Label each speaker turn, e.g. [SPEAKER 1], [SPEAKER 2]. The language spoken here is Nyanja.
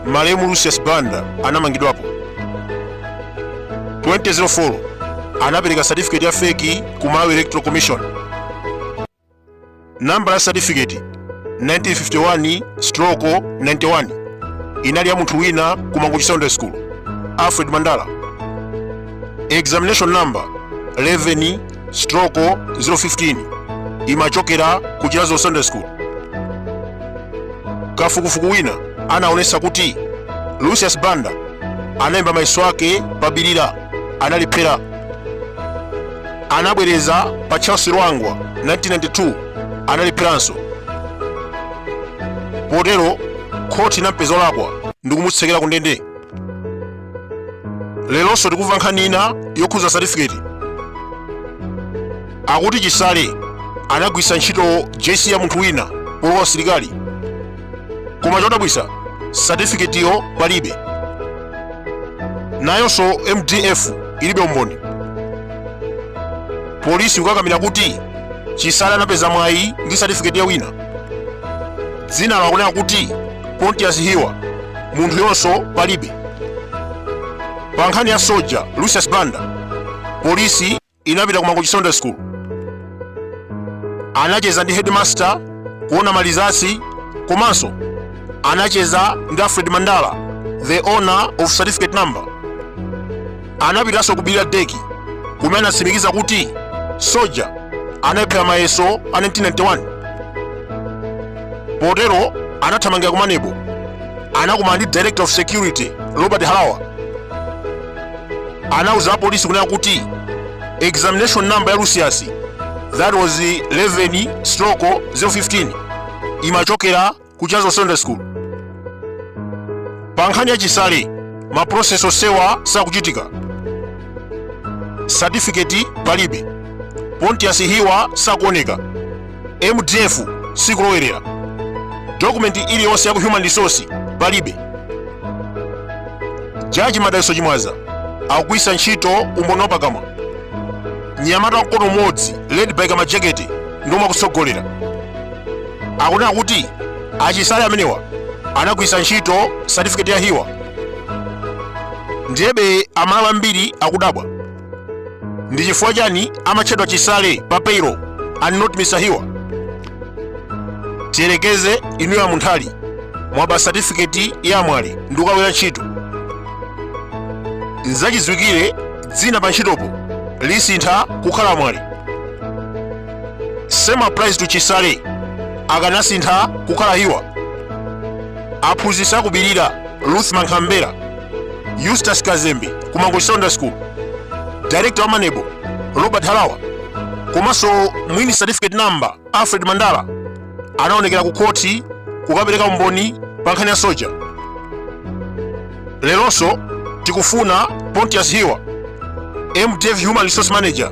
[SPEAKER 1] malemu lucius banda anamangidwapo 2004 anapereka certificate ya fake ku malawi electoral commission nambala ya certificate 1951 stroko 91 inali ya munthu wina ku mangochi secondary school alfred mandala examination number 11 stroko 015 imachokera ku chilazo secondary school kafukufuku wina anaonesa kuti lucius banda analemba mayeso ake pa bilira analiphera anabwereza pa charles lwanga 1992 analipheranso potero khoti inampeza olakwa ndikumutsekera ku ndende leronso tikumva nkhani ina yokhuza satifiketi akuti chisale anagwisa ntchito jc ya munthu wina polowa usilikali koma chodabwisa satifiketiyo palibe nayonso mdf ilibe umboni polisi kukakamira kuti chisale anapeza mwayi ndi satifiketi ya wina dzina lake kunena kuti pontius hiwa munthuyonso palibe pa nkhani ya soja lucius banda polisi inapita ku mangochi secondary school anacheza ndi headmaster kuona malizasi komanso anacheza ndi alfred mandala the owner of certificate number anapitanso ku Bilira CDEC kumene anatsimikiza kuti Soja analiphera mayeso a 1991. Potero anathamangira ku MANEB anakumana ndi Director of Security Robert Halawa anauza apolisi kunena kuti examination number ya Lucius that was 11 stroke 015 imachokera ku chilazo secondary school pa nkhani ya chisale ma process onsewa sakuchitika satifiketi palibe pontius hiwa sakuoneka mdf sikulowerera dokumenti iliyonse ya ku human resource palibe jaji madaliso chimwaza akugwiritsa ntchito umboni wapakamwa anyamata a mkono umodzi led by kamajekete ndiomwe akutsogolera akunena kuti achisale amenewa anagwiritsa ntchito satifiketi ya hiwa ndiyebe amalawi ambiri akudabwa ndi chifukwa chani amatchedwa chisale pa payroll and not mr hiwa tiyerekeze inuyo a munthali mwaba satifiketi ya a mwale ndi kukagwira ntchito nzachidziwikire dzina pa ntchitopo lisintha kukhala a mwale same applies to chisale akanasintha kukhala hiwa aphunzitsi aku bilira ruth mankhambera eustace kazembe ku mangochi secondary school director wa maneb robert halawa komanso mwini certificate number alfred mandala anaonekera ku khoti kukapereka umboni pa nkhani ya soja leronso tikufuna pontius hiwa mdf human resource manager